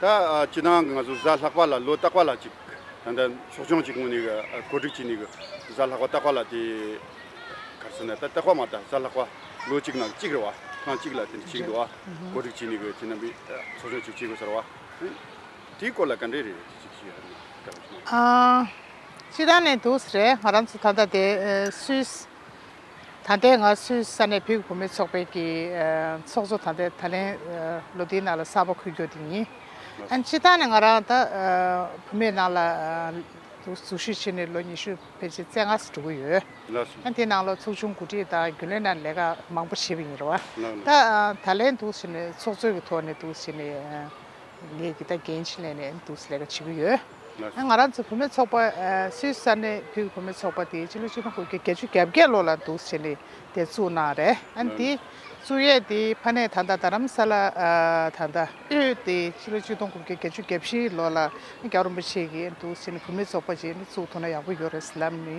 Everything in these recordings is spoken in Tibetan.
ད་ཇི་ལྟར་ང་ཚོ་གཟའ་ལྷག་པ་ལ་ལོ་རྟག་པ་ལ་ཅིག་ད་ལྟ་ཕྱོགས་སྐྱོང་ཅིག་ངོས་ནས་གོ་སྒྲིག་བྱས་ནས་གཟའ་ལྷག་པ་རྟག་པ་ལ་དེ་གར་སོང་ནས་ད་རྟག་པ་མ་རྟག་གཟའ་ལྷག་པ་ལོ་གཅིག་ནང་གཅིག་རེད་བ་ཐང་གཅིག་ལ་དེ་འདྲ་བྱེད་འདུག་བ་གོ་སྒྲིག་བྱས་ནས་དེ་རྣམ་པའི་ཚོགས་སྐྱོང་ཅིག་བྱེད་དགོས་ས་རེད་བ། དེའི་སྐོར་ལ་ག་འདྲ་རེད་ཅིག་བྱེད་ཡ་རེད་དྲ་བ་ཞིག་ན། ཅི་ལྟར་ནས་འདུག་ཟེར་རེད་ང་རང་ཚོ་ད་ལྟ་དེ་སུད། ད་ལྟའི་ང་སུའི་ས་ནས་བོད་བུ་མོའི་ཚོགས་པའི་ཀྱི་ཚོགས་གཙོ་ད་ལྟའི་ད་ལན་ལོ་དེའི་ནང་ལ་གསར་པ་འཁུར་རྒྱུ་དེ་ཡིན། ཨན་སྤྱི་ཐང་ནས་ང་རང་ད་བུ་མོའི་ནང་ལ་ཟུར་ཞུགས་བྱས་ནས་ལོ་ཉི་ཤུ་ཕལ་ཆེར་བཙན་ང་སུ་འགྲོ་གི་ཡོད། ཨན་དེའི་ནང་ལ་ཚོགས་ཆུང་གོ་སྒྲིག་དང་རྒྱུན་ལས་ནང་ལས་ཀ་མང་པོ་བྱས་པ་ཡིན་རུང་ད་ད་ལན་ད་བྱས་ནས་ཚོགས་གཙོའི་གི་ཐོག་ནས་ད་བྱས་ནས་ངས་ཀྱི་ད་འགན་ཆེན་ལས་ནས་ད་ལས་ཀ་བྱེད་ཀྱི་ཡོད། ང་རང་ཚོའི་བུད་མེད་ཚོགས་པ་སུད་སི་ནས་བུད་བུད་མེད་ཚོགས་པ་དེ་སྤྱི་ལོ་ཆིག་སྟོང་དགུ་བརྒྱ་བརྒྱད་ཅུ་གྱ་བརྒྱད་ལོ་ལ་འདུག་བྱས་ནས་དེ་བཙུགས་གནང་བ་རེད་ཨང་དེ་བཙུགས་ཡས་དེ་ཕ་ནས་ད་ལྟ་དྷ་རམ་ས་ལ་དང་ད་ཨུད་དེ་སྤྱི་ལོ་ཆིག་སྟོང་དགུ་བརྒྱ་བརྒྱད་ཅུ་གྱ་བཞི་ལོ་ལ་རྒྱ་རོམ་པ་བྱས་ཀྱི་འདུག་བྱས་ནས་བུད་མེད་ཚོགས་པ་བྱས་ནས་བཙུགས་ཐུབ་ན་ཡག་པོ་ཡོད་རེད་སེམས་ལབ་ནི།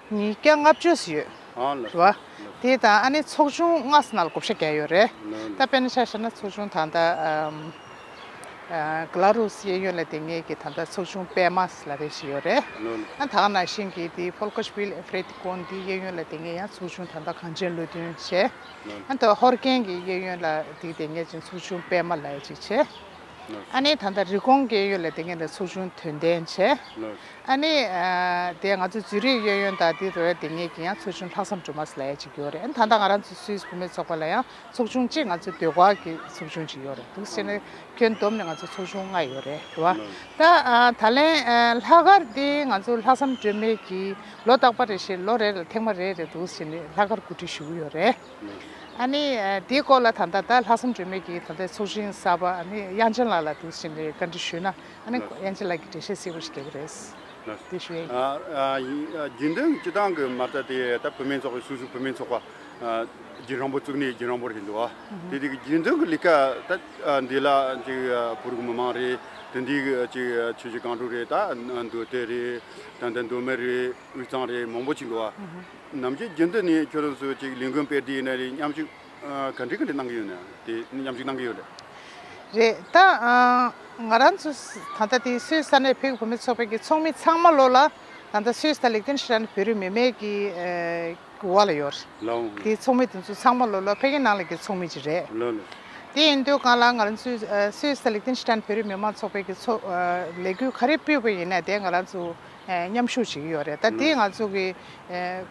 ཉིས་བརྒྱ་ལྔ་བཅུ་སུ་ཡོད་བ། དེ་དང་ཨ་ནི་ཚོགས་ཆུང་ལྔ་སུ་ན་ལ་གོ་བཞི་བརྒྱ་ཡོད་རེད། ད་དཔེར་ན་ཆ་བཞག་ན་ཚོགས་ཆུང་ད་ལྟ་གི་ལ་རུ་སི་གཡས་གཡོན་ལ་དེ་ངེས་ཀྱི་ད་ལྟ་ཚོགས་ཆུང་པད་མ་སི་ལ་རེ་བཞི་ཡོད་རེད། ད་ད་ནང་བཞིན་གྱི་དེ་ཕོལ་ཁོ་ཤི་བྷི་ལ་ཨེ་ཕེར་ཏི་ཀོན་དེའི་གཡས་གཡོན་ལ་དེ་ངེས་ཡང་ཚོགས་ཆུང་ད་ལྟ་གངས་ཅན་བློ་མཐུན་བྱས། ད་ཧོར་ཀན་གྱི་གཡས་གཡོན་ལ་དེ་དེ་ངེས་ཅིང་ཚོགས་ཆུང་པད་མ་ལ་ཡ་གཅིག་བྱས། ཨཱ་ནི། ད་ལྟ་རི་གོང་སྐྱེས་ཡུལ་ལ་དེ་སྐད་དུ་ཚུར་ཕྱུང་དོན་ལྡན་བྱས། ཨཱ་ནི། དེ་ང་ཚོའི་རྫུན་རིགས་གཡོ་ཡོན་དང་དེ་རོལ་དེ་ངེད་ཀྱིས་ཡང་ཚུར་ཕྱུང་ལྷག་བསམ་སྒྲུབ་མ་སླ་ཡ་ཅིག་ཡོད་རེད། ད་ལྟ་ང་རང་ཚོའི་སུད་སི་བུད་མེད་ཚོགས་པ་ལ་ཡང་ཚོགས་ཆུང་གཅིག་ང་ཚོའི་སྡོད་སྒར་གྱི་ཚོགས་ཆུང་གཅིག་ཡོད་རེད་འདུག་ཤེས་ན་ཁྱོན་བསྡོམས་ནས་ང་ཚོའི་ཚོགས་ཆུང་ལྔ་ཡོད་རེད་དེ་བ། ད་ད་ལན། ལྷག་སྒར་འདི་ང་ཚོ་ལྷག་བསམ་སྒྲོན་མེ་གྱིས་ལོ་རྟག་པ་རེ་བཞིན་ལོ་རེ་ལ་ཐེངས་མ་རེ་རེ་འདུག་ཤེས་ནས་ལྷག་སྒར་གོ་སྒྲིག་ཞུ་གི་ཡོད་རེད། ཨཱ་ནི། དེའི་སྐོར་ལ་ད་ལྟ་ད་ལྷག་བསམ་དྲོན་མེད་ཀྱིས་ད་ལྟའི་ཚོགས་ཆེན་གསར་པ་ཨཱ་ནི་དབྱངས་ཅན་ལགས་ལ་དེ་བཞིན་ནས་བཀའ་འདྲི་ཞུས་ན་ཨཱ་ནི་དབྱངས་ཅན་ལགས་ཀྱིས་འགྲེལ་བཤད་གསལ་བོ་ཞིག་རྒྱག་གི་རེད། དེ་ཞུ་ཡ་ཡིན། རྒྱུན་ལྡན་སྤྱི་བཏང་གི་མ་རྩ་དེ་ད་བུད་མེད་ཚོགས་པའི་སོ་སོའི་བུད་མེད་ཚོགས་པ་རྒྱུན་རིང་པོ་བཙུགས་ནས་རྒྱུན་རིང་པོར་ཞིག་འདུག་ཨ་དེ་དེ་གི་རྒྱུན་ལྡན་གྱི་ལས་ཀ་ད་འདི་ལ་ཅིག་བོད་རིགས་མི་མང་རེད་དེ་འདི་གི་ཅིག་ཆོས་རྗེ་གང་དྲུག་རེད་ད་འདུག་དེ་རེད་ད་ད་འདུག་མེ་རེད་དབུས་གཙང་རེད་མང་པོ་ཅིག་འདུག་ཨ། ནམ་ཞིག་རྒྱུན་དུ་ནི་ཁྱོད་རང་ཚོས་ཅིག་ལིན་ཀོན་པེ་དེའི་ནང་ནས་མཉམ་ཞུགས་ག་འདྲི་ག་འདྲི་གནང་གི་ཡོད་ནའང་དེ་མཉམ་ཞུགས་གནང་གི་ཡོད་རེད། རེད་ད། ང་རང་ཚོ་ད་ལྟ་དེ་སུད་ས་ནས་བོད་ཀྱི་བུ་མེད་ཚོགས་པའི་ཀྱི་ཚོགས་མི་ཚང་མ་ལོ་ལ་ད་ལྟ་སུད་ས་དང་ལིག་ཏེན་ཧྲི་ཏན་བོད་རིགས་མི་མེད་ཀྱི་བར་ལ་ཡོད་རེད། དེའི་ཚོགས་མི་དེ་ཚོ་ཚང་མ་ལོ་ལ་བྷེ་ཀེན་ནང་ལ་ཀྱི་ཚོགས་མི་ཅིག་རེད། དེ་ཡིན་དུས་གང་ལ་ང་རང་ཚོས་སུད་ས་དང་ལིག་ཏེན་ཧྲི་ཏན་བོད་རིགས་མི་མང་ཚོགས་པའི་ཀྱི་ཚོགས་ལས་འགུལ་ག་རེ་སྤུས་པ་ཡིན་ན་དེ་ང་རང་ཚོ་མཉམ་ཞུགས་བྱེད་ཀྱི་ཡོད་རེད་ད་དེ་ང་ཚོ་གི་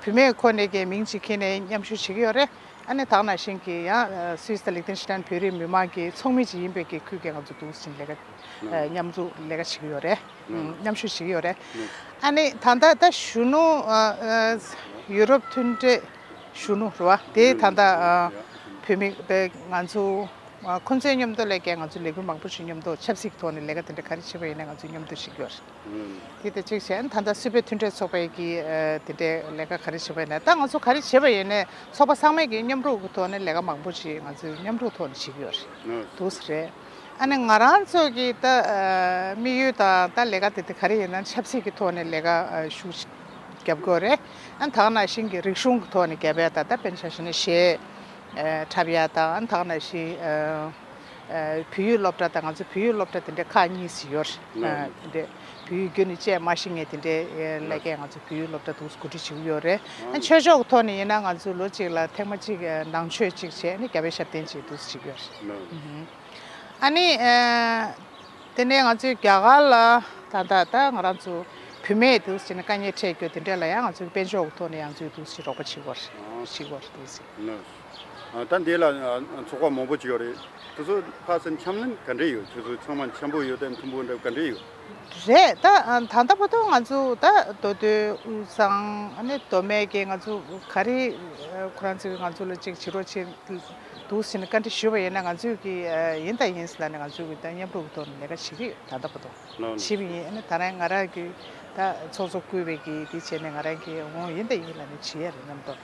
བུད་མེད་ཁོ་ནས་ཀྱི་མིང་ཅིག་ཁྱེར་ནས་མཉམ་ཞུགས་བྱེད་ཀྱི་ཡོད་རེད་ཨ་ནེ་དག་ནང་བཞིན་གྱི་ཡང་སུའི་སི་ལི་ཐན་སི་ཐན་བོད་རིགས་མི་དམངས་ཀྱི་ཚོགས་མི་ཅིག་ཡིན་པའི་གི་ཁུལ་གྱི་ང་ཚོ་དུས་ཆེན་ལས་ཀ་མཉམ་འཛུགས་ལས་ཀ་བྱེད་ཀྱི་ཡོད་རེད་མཉམ་ཞུགས་བྱེད་ཀྱི་ཡོད་རེད་ཨ་ནེ་ད་ལྟ་ད་གཞོན་ནུ་ཡུ་རོབ་མཐུན་འབྲེལ་གཞོན་ནུ་རེད་བ་དེ་ད་ལྟ་བུད་མེད་པའི་ང་ཚོ་ཁོང་ཚོའི་མཉམ་དུ་ལས་ཀའི་ང་ཚོ་ལས་འགུལ་མང་པོ་ཞིག་མཉམ་དུ་ཆབ་སྲིད་ཀྱི་ཐོག་ནས་ལས་ཀ་དེ་འདྲ་ག་རེ་བྱེད་པ་ཡིན་ན་ང་ཚོ་མཉམ་དུ་བྱེད་ཀྱི་ཡོད་རེད། གིས་དེ་གཅིག་གཞན་ད་ལྟ་སུད་པའི་མཐུན་འབྲེལ་ཚོགས་པས་ཀྱིས་དེ་འདྲའི་ལས་ཀ་ག་རེ་བྱེད་པ་ཡིན་ན་ད་ང་ཚོ་ག་རེ་བྱེད་པ་ཡིན་ནས་ཚོགས་པ་ཚང་མས་ཀྱིས་མཉམ་རུབ་ཀྱི་ཐོག་ནས་ལས་ཀ་མང་པོ་ཞིག་ང་ཚོས་མཉམ་རུབ་ཐོག་ནས་བྱེད་ཀྱི་ཡོད་རེད་འདུག་ས་རེད། ཨ་ནི་ང་རང་ཚོས་ཀྱིས་ད་དམིགས་ཡུལ་དང་ད་ལས་ཀ་དེ་དེ་ག་རེ་ཡིན་ན་ཆབ་སྲིད་ཀྱི་ཐོག་ནས་ལས་ཀ་ཤུགས་ཆེ་རྒྱབ་དགོས་རེད། ཨ་ནི་དག་ན་ཤིང་གི་རིག་གཞུང་གི་ཐོག་ནས་རྒྱ་བལ་ད་ད་པེན་ཆ་ཞིག་ནས་བཞེས་འཁྲབ་ཡ་དང་དག་ན་ཤི། བུ་ཡུག་སློབ་གྲ་དང་ང་ཚོ་བུ་ཡུག་སློབ་གྲ་དེ་འདྲའི་ཁག་གཉིས་ཤིག་ཡོད་རེད། བུ་ཡུག་རྒྱུ་ནི་བཅས་མ་ཤི་ངེས་དེ་འདྲའི་ཀླད་ཀས་ང་ཚོ་བུ་ཡུག་སློབ་གྲ་དུག་གུ་དྲི་བྱེའུ་ཡོད་རེད། ཆོས་ཕྱོགས་ཀྱི་ཐོག་ནས་ཡིན་ན་ང་ཚོས་ལོ་གཅིག་ལ་ཐེངས་མ་གཅིག་ནང་ཆོས་གཅིག་བྱས་ནས་རྒྱ་བོད་ཞབས་བརྟན་བྱས་དུས་ཤིག་ཡོད་རེད། ཨ་ནི། དེ་ནས་ང་ཚོས་རྒྱ་གར་ལ་ད་ལྟ་ད་ང་རང་ཚོ་བུད་མེད་དུ་བྱས་ནས་དཀའ་ཉེས་འཕྲད་རྒྱུ་དེ་འདྲ་ལ་ཡང་ང་ཚོས་དཔལ་ཕྱོགས་ཀྱི་ཐོག་ནས་ཡང་ཚོས་དུས་ཤིག་རོགས་པ་བྱེད་དགོས་རེད། ལོས། ད་འདི་ལ་ཚོགས་པ་མང་པོ་བྱས་ཡོད་རེད། དེ་ཚོ་ཕར་ཟེར་འཆམ་ལམ་ག་འདྲས་ཡོད་ཁྱོད་ཚོ་ཚང་མ་འཆམ་པོ་ཡོད་དམ་མཐུན་པོ་འདྲ་ག་འདྲས་ཡོད། རེད་ད། ད་ལྟ་བོ་དོ་ང་ཚོ་ད་མདོ་སྟོད་དབུས་གཙང་ནས་མདོ་སྨད་ཀྱི་ང་ཚོ་ག་རེ་ཁོ་རང་ཚོས་ང་ཚོ་ལ་ཅིག་བྱེད་རོགས་བྱེད་འདུག་ཟེར་ནས་བཀའ་འདྲི་ཞུས་པ་ཡིན་ན་ང་ཚོས་ཀྱི་ཡིན་ད་ཡིན་ཟེར་ལ་ནི་ང་ཚོས་ཀྱི་ད་མཉམ་རུབ་ཀྱི་ཐོག་ནས་ལས་ཀ་བྱེད་ཀྱི་ཡོད་ད་ལྟ་བོ་དོ། བྱེད་པ་ཡིན་ད་རན་ང་རང་གི་ད་ཚོགས་གཙོ་བསྐོས་པའི་གི་དེ་བྱས་ནས་ང་རང་གི་འོང་ཡིན་ད་ཡིན་ལ་ནི་བྱེད་ཡ་རེད་སྙམ་དོ།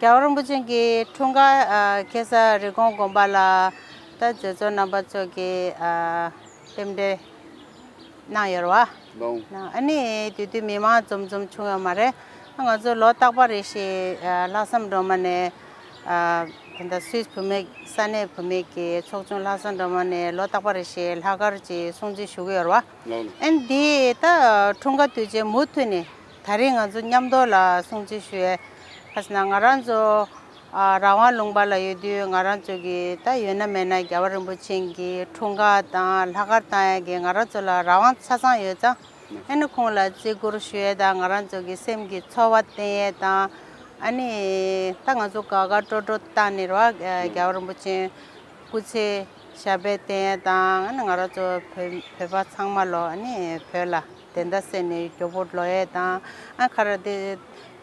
རྒྱལ་བ་རིན་པོ་ཆེན་གྱི་འཁྲུངས་སྐར་གེ་སར་རི་གོང་དགོན་པ་ལ་ད་རྗེ་བཙུན་རྣམ་པ་ཚོགས་ཀྱིས་རྟེན་འབྲེལ་གནང་ཡོད་བ། ཨ་ནི་དུས་དུས་མི་མང་འཛོམས་འཛོམས་བྱུང་ཡོད་མ་རེད། ང་ཚོ་ལོ་རྟག་པ་རེ་ཞིག་ལྷག་བསམ་སྒྲོལ་མ་ནས་དེ་འདྲ་སུད་བུད་མེད་ས་གནས་བུད་མེད་ཀྱི་ཚོགས་ཆུང་ལྷག་བསམ་སྒྲོལ་མ་ནས་ལོ་རྟག་པ་རེ་ཞིག་ལྷག་སྐར་གྱི་སྲུང་བརྩི་ཞུ་གི་ཡོད་བ། ཨན་དེའི་ད་འཁྲུངས་སྐར་དུས་ཆེན་མུ་མཐུད་ནས་ད་རེས་ང་ཚོ་མཉམ་འདོགས་ལ་སྲུང་བརྩི་ཞུ། ཁ་སང་ང་རང་ཚོ་རང་དབང་ལུང་པ་ལ་ཡོད་དུས་ང་རང་ཚོ་གི་ད་ཡོད་ན་མེད་ན་རྒྱལ་བ་རིན་པོ་ཆེན་གྱི་འཁྲུངས་སྐར་དང་ལྷ་སྐར་བཏང་ཡས་གི་ང་རང་ཚོ་ལ་རང་དབང་ཆ་ཚང་ཡོད་ཙང་ཨ་ནི་ཁོང་ལ་བརྩི་བཀུར་ཞུ་ཡས་དང་ང་རང་ཚོ་གི་སེམས་ཀྱི་ཚོར་བ་བསྟན་ཡས་དང་ཨ་ནི་ད་ང་ཚོ་དགའ་དགའ་སྤྲོ་སྤྲོ་བཏང་ནི་རོགས་རྒྱལ་བ་རིན་པོ་ཆེན་སྐུ་ཚེ་ཞབས་པད་བརྟན་ཡས་དང་ཨ་ནི་ང་རང་ཚོ་བོད་པ་ཚང་མ་ལོ་ཨ་ནི་བོད་ལ། དེ་འདྲ་ཟེར་ནས་གྱོ་པོ་ལོ་ཡེ་དང་ཨ་ཁ་ར་དེ།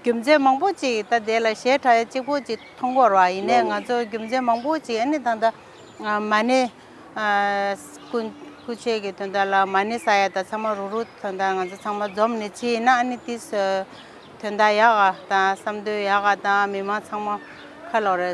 རྒྱུ་མཚན་མང་པོ་ཅིག་ད་དེ་ལ་ཞེ་དྲགས་གཅིག་པོ་ཅིག་མཐོང་གོ་ར་ཡིན་ནས་ང་ཚོ་རྒྱུ་མཚན་མང་པོ་ཅིག་ཨ་ནེ་ད་ད། མ་ནེ། སྐུ། སྐུ་ཆེ་གི་དོན་དག་ལ་མ་ནེ་ས་ཡ་ད་ཚང་མ་རུ་རུ་དོན་དག་ང་ཚོ་ཚང་མ་འཛོམས་ནས་ཅི་ཡིན་ན་ཨ་ནེ་ཏིས། དོན་དག་ཡག་ག་དང་བསམ་དོན་ཡག་ག་དང་མི་མང་ཚང་མ་ཁ་ལོ་རེ།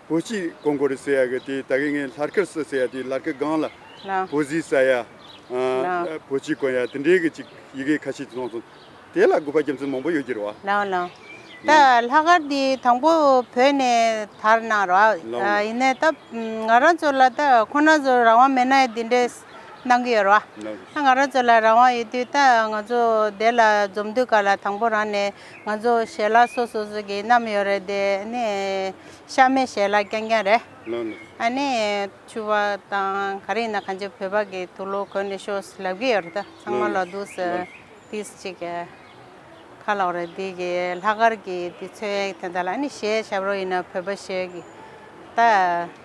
བུ་གཅིག་གོང་གོ་རི་ཟེར་ཡ་གི་དེ་ད་གི་ངའི་ལྷར་ཁར་སུ་ཟེར་ཡ་དེ་ལར་ཁི་སྒང་ལ་བུ་བཟི་ཟ་ཡ་བུ་གཅིག་གོན་ཡ་དེ་འདྲའི་གི་གཅིག་ཡི་གེ་ཁ་ཤས་དེ་སོང་སོང་དེ་ལ་དགོས་པ་རྒྱ་མཚོ་མང་པོ་ཡོད་ཀྱི་རེད་བ། ལགས་ལགས། ད་ལྷ་ཁར་དེ་དང་པོ་བོད་ནས་དར་ནང་ར་བ། ཡིན་ནའི་ད་ང་རང་ཚོ་ལ་ད་ཁོ་ན་ཚོ་རང་དབང་མེད་ན་ཡི་དེ་འདྲའི་གནང་གི་ཡོད་ར་བ། ང་རང་ཚོ་ལ་རང་དབང་ཡོད་དུས་ད་ང་ཚོ་དེ་ལ་འཛོམས་དུས་ག་ལ་དང་པོ་རང་ནས་ང་ཚོ་ཞལ་ལག་སོ་སོ་སོ་གི་བསྣམས་ཡོད་རེད་དེ་ནི་ཤ་མེད་ཞལ་ལག་རྐྱང་རྐྱང་རེད། ཨ་ནི་ཆུ་བ་དང་ག་རེ་ཡིན་ན་ག་འཇེ་བོད་པ་གི་ཐུགས་ལོ་གོན་ནས་ཤོ་སི་ལབ་གི་ཡོད་རེད་ད་ཚང་མ་ལོ་དུས་སུ་དུས་ཅིག་གི་ཁ་ལོག་རེད་དེ་གི་ལྷག་དཀར་གི་དུས་ཚོད་དེ་འདྲ་ལ་ཨ་ནི་ཞལ་ཞབས་རོ་ཡིན་ན་བོད་པ་ཞེས་ཀྱི་ད།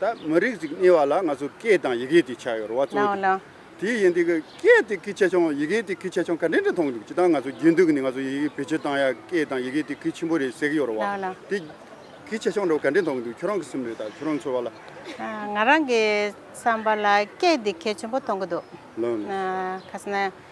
ད་མི་རིགས་ཅིག་རྙེད་བ་ལ་ང་ཚོ་སྐད་དང་ཡི་གེ་དེ་ཆགས་ཡོད་རེད་བ་གཙོ་བོ་དེ། དེ་ཡིན་དུས་ཀྱི་སྐད་དེ་གི་ཆེ་ཆུང་ཡི་གེ་དེ་གི་ཆེ་ཆུང་ག་འདྲེ་འདྲེ་མཐོང་འདུག་ཅི་ལྟར་ང་ཚོ་རྒྱུན་དུ་ནི་ང་ཚོ་ཡི་གེ་བེད་སྤྱོད་བཏང་ཡ་སྐད་དང་ཡི་གེ་དེ་གི་ཆེན་པོ་རེད་ཟེར་གྱི་ཡོད་རེད་བ། དེ་གི་ཆེ་ཆུང་འདྲ་བ་ག་འདྲེ་མཐོང་གི་འདུག་ཁྱོད་རང་གི་སེམས་ལས་དང་ཁྱོད་རང་འཚོལ་བ་ལ། ང་རང་གི་བསམ་པ་ལ་སྐད་དེ་གལ་ཆེན་པོ་མཐོང་གི་འདུག། ཁ་སང།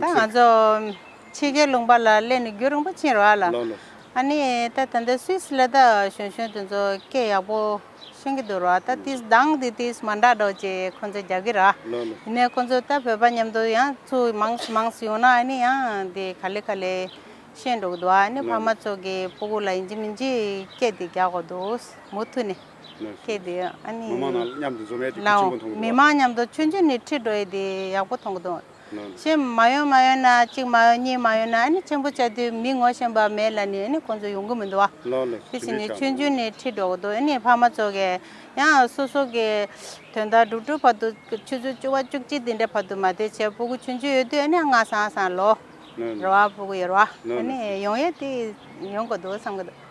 ད་ང་ཚོ་ཕྱི་རྒྱལ་ལུང་པ་ལ་སླེབས་ནས་རྒྱུ་རིང་པོ་ཕྱིན་རོགས་ཨ་ལགས། ཨ་ནི་ད་ད་ལྟ Swiss ལ་དག་གཞོན་གཞོན་དེ་ཚོ་སྐད་ཡག་པོ་ཤོད་ཀྱི་འདུག་རོགས་ད་དེའི་གདངས་དེ་དེས་མ་འདྲ་འགྲོ་ཅེས་ཁོ་ཚོས་རྒྱག་གི་རེད། ཡིན་ནའི་ཁོ་ཚོ་ད་བོད་པ་མཉམ་དུ་ཡང་ཚུ་མང་སུ་མང་སུ་ཡོང་ན་ཨ་ནི་ཡང་དེ་ག་ལེ་ག་ལེ་ཤོད་འགྲོ་གི་འདུག་ཨ་ནི་ཕ་མ་ཚོ་གི་སྤུ་གུ་ལ་ཡིན་གྱི་མིན་གྱི་སྐད་དེ་རྒྱག་གི་འདུག་མུ་མཐུད་ནས། ཁྱེད་དེ་ཨ་ནི། མི་མང་ནང་མཉམ་དུ་འཛོམས་ཡས་དེ་ཁྱོད་ཆོས་གོ་མཐོང་གི་འདུག། མི་མང་མཉམ་དུ་ཆོས་འབྱུང་ནས་ཁྲིད་འགྲོ་ཡས་དེ་ཡག་པོ་མཐོང་གི་འདུག། ཞེས་མ་ཡོང་མ་ཡོང་ན་གཅིག་མ་ཡོང་གཉིས་མ་ཡོང་ན་ཨ་ནི་ཆེན་པོ་བྱས་དུས་མི་ངོ་ཤེས་པ་མེད་ལ་ནི་ཨ་ནི་ཁོང་ཚོ་ཡོང་གི་མི་འདུག་བ། དེ་བཞིན་ནི་ཆོས་འབྱུང་ནས་ཁྲིད་འགྲོ་གི་འདུག་ཨ་ནི་ཕ་མ་ཚོ་གས་ཡང་སོ་སོ་གི་དོན་དག་སྒྲུབ་སྒྲུབ་བར་དུ་ཆུ་ཚོད་བཅུ་བ་བཅུ་གཅིག་དེ་འདྲ་བར་དུ་མ་དེ་བྱས་སྤོ་གི་ཆོས་འབྱུང་ཡོད་དུས་ཨ་ནི་ང་སང་སང་ལོ་རེ་བ་སྤོ་གི་ཡོད་རེད་བ། ཨ་ནི་ཡོང་ཡས་དེ་ཡོང་གི་འདུག་བསམ་གི་འདུག།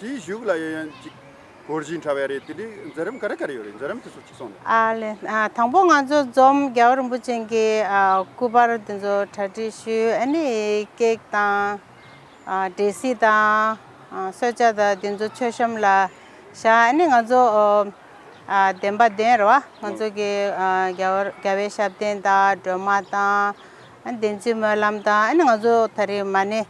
དེའི་གཞུག་ལ་ཡོད་ཡོན་ཅིག། གོར་བཞིན་འཁྲ་བའི་རེད་དེ་འདྲའི་འཛིན་རིམ་ག་རེ་ག་རེ་ཡོད་རེད་འཛིན་རིམ་དེ་ཚོ་གཅིག་སོང་ནས། ཨ་ལས། དང་པོ་ང་ཚོ་འཛོམས་རྒྱལ་བ་རིན་པོ་ཆེན་གྱི་སྐུ་པར་དེ་ཚོ་གྲ་སྒྲིག་ཞུས་ཨ་ནི་ཀེག་དང། འདྲེ་སྲི་དང། སོས་ཆ་དང་དེ་ཚོ་མཆོད་བཤམས་ལ་བཞག་ཨ་ནི་ང་ཚོ། གདན་པ་གདན་རེད་བ་ང་ཚོ་གི་རྒྱལ་བའི་ཞབས་བརྟན་དང་སྒྲོལ་མ་དང། བདེན་ཚིག་སྨོན་ལམ་དང་ཨ་ནི་ང་ཚོ་ད་རེས་མ་ནི།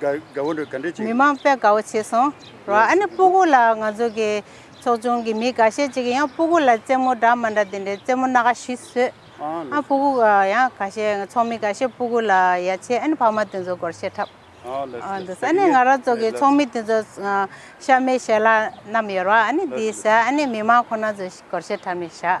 དགའ་བོ་འདྲ་ག་འདྲ་བྱེད། མི་མང་པས་དགའ་བོ་བྱས་སོང། རོ་ཨ་ནི་སྤུ་གུ་ལ་ང་ཚོ་གི་ཚོགས་ཆུང་གི་མི་འགའ་ཤས་ཅིག་གིས་ཡང་སྤུ་གུ་ལ་རྩེད་མོ་འདྲ་མ་འདྲ་དེ་འདྲའི་རྩེད་མོ་སྣ་ཁ་བཞི་བཟོས། ཨ་སྤུ་གུ་ཡང་ག་ཤས་ཚོགས་མི་ག་ཤས་སྤུ་གུ་ལ་ཡ་ཆེ་ཨ་ནི་ཕ་མ་དེ་ཚོ་སྒོར་བཤད་འཁྲབ། འདུག་ས་ཨ་ནི་ང་རང་ཚོ་གི་ཚོགས་མི་དེ་ཚོ་ཤ་མེད་ཤ་ལ་རྣམས་ཡོད་རོ་ཨ་ནི་དེ་ས་ཨ་ནི་མི་མང་ཁོ་ན་ཚོས་སྒོར་བཤད་འཁྲབ་ནས་བཞག།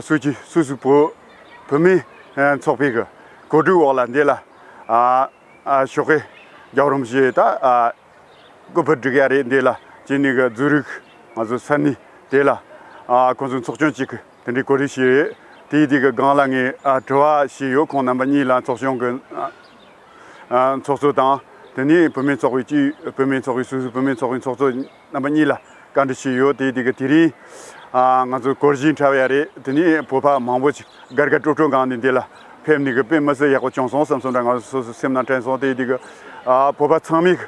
སུ་གྱིས་སུ་སུ་བོད་བོད་མིའི་ཚོགས་པའི་གི་གོ་སྒྲིག་འོག་ལ་འདི་ལ་ཤོག་ཁེ་རྒྱག་རོམ་ཞེས་ད་སྐུ་ཕུལ་བསྒྲིགས་ཡ་རེད་འདི་ལ་ཅི་ནས་གི་འཛུལ་རིགས་ང་ཚོ་ས་གནས་དེ་ལ་ཁོང་ཚོ་ཚོགས་ཆུང་གཅིག་གི་དེ་འདྲའི་གོ་རེ་ཞིག་རེད་དེའི་དེ་གི་སྒང་ལ་ངས་དྲི་བ་ཞིག་ཡོད་ཁོང་རྣམ་པ་གཉིས་ལ་ཚོགས་ཆུང་གི་ཚོགས་གཙོ་དང་དེ་ནས་བུད་མེད་ཚོགས་པའི་སྤྱི་བུད་མེད་ཚོགས་པའི་སུ་སུ་བུད་མེད་ཚོགས་པའི་ཚོགས་གཙོ་རྣམ་པ་གཉིས་ལ་བཀའ་འདྲི་ཞིག་ཡོད་དེ་དེ་རིང་ང་ཚོ་སྐོར་བཞི་འཁྲབ་ཡ་རེད་དེ་ནས་བོད་པ་མང་པོ་དགར་དགར་སྤྲོ་སྤྲོ་གང་ནས་འདི་ལ་ཕེབས་ནས་དཔེ་མི་སྲིད་ཡག་པོ་བྱུང་སོང་བསམ་སོང་འདྲ་ང་སོ་སོ་སེམས་ནང་དྲན་སོང་དེ་བོད་པ་ཚང་མས་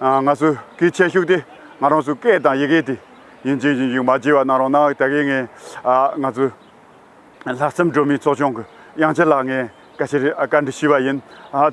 ང་ཚོ་གི་ཁྱད་ཞུགས་དེ་ང་རང་ཚོའི་སྐད་དང་ཡི་གེ་དེ་ཡིན་གཅིག་ཡིན་གཅིག་མ་བརྗེད་པ་གནང་རོགས་གནང་ད་གིན་ངས་ང་ཚོའི། ལྷག་བསམ་སྒྲོན་མེའི་གཙོ་སྐྱོང་གི་དབྱངས་ཅན་ལགས་ངས་བཀའ་ཁྱེར་བཀའ་འདྲི་ཞུས་པ་ཡིན།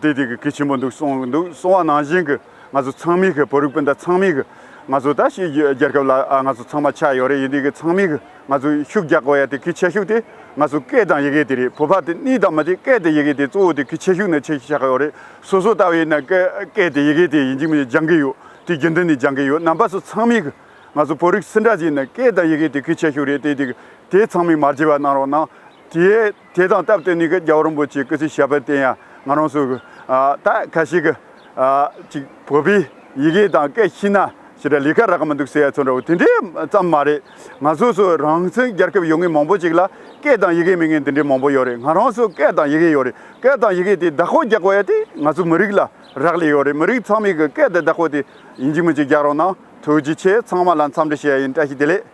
དེ་དུས་ཀྱི་སྐད་ཆེན་པོ་འདུག་གསུངས་འདུག་གསུང་བ་ནང་བཞིན་གྱི་ང་ཚོ་ཚང་མིག་གི་བོད་རིགས་སྤུན་ཟླ་ཚང་མིག་གི་ང་ཚོ་ད་ཕྱིས་རྒྱལ་ཁབ་ལ་ང་ཚོ་ཚང་མ་ཆགས་ཡོད་རེད་ཡིན་དུས་ཀྱི་ཚང་མིག་གི་ང་ཚོ་ཤུགས་རྒྱག་དགོས་ཡ་དེ་གི་ཆེ་ཤུགས་དེ་ང་ཚོ་སྐད་དང་ཡི་གེ་དེ་རེད་བོད་ཕ་དེ་གཉིས་དང་མ་དེ་སྐད་དེ་ཡི་གེ་དེ་གཙོ་བོ་དེ་གི་ཆེ་ཤུགས་ནི་ཆེ་ཆགས་ཡོད་རེད་སོ་སོ་ལྟ་བས་ནི་སྐད་དེ་ཡི་གེ་དེ་ཡིན་གྱི་མི་སྦྱང་གི་ཡོད་དུས་རྒྱུན་དུ་ནི་སྦྱང་གི་ཡོད་རྣམ་པ་ཚོ་ཚང་མིག་གི། ང་ཚོ་བོད་རིགས་སེར་འདྲ་གཅིག་ནི་སྐད་དང་ཡི་གེ་དེ་གུས་ཆེ་ཤོས་རེད་དེ་དེ་དེ་ཚང་མས་མ་བརྗེད་པ་གནང་རོགས་གནང། དེའི་དེ་དང་སྟབས་བསྟུན་ནས་གི་རྒྱ་བོ་རིན་པོ་ཆེའི་སྐུ་ཚེའི་ཞལ་དཔེར་བསྟན་ཡང་ང་རང་ཚོ་ད་ཁ་ཤས་ཀྱི་ཅིག་བོད་པའི་ཡི་གེ་དང་སྐད་ཤེས་ན་ཞེ་དྲག་ལས་ཀ་རག་གི་མི་འདུག་ཟེར་ཡ་ཚོ་འདྲ་བོ་དེ་འདྲའི་ཙམ་མ་རེད། ང་ཚོ་ཚོ་རང་བཙན་རྒྱལ་ཁབ་ཡོང་མཁན་མང་པོ་ཅིག་ལ་སྐད་དང་ཡི་གེ་མེད་མཁན་དེ་འདྲའི་མང་པོ་ཡོད་རེད་ང་རང་ཚོ་སྐད་དང་ཡི་གེ་ཡོད་རེད་སྐད་དང་ཡི་གེ་དེ་བདག་ཁོ་རྒྱག་པ་ཡ་དེ་ང་ཚོ་མི་རིགས་ལ་རག་ལས་ཡོད་རེད་མི་རིགས་ཚང་མས་གི་སྐད་དེ་བདག་ཁོ་དེ་ཡིན་གཅིག་མིན་གཅིག་རྒྱག་རོགས་གནང། ཐུགས་རྗེ་ཆེ་ཚང་མ་ལ་འཚམས་འདྲི་བྱེད་ཡ་ཡིན་བཀྲ་ཤིས་བདེ་ལེགས།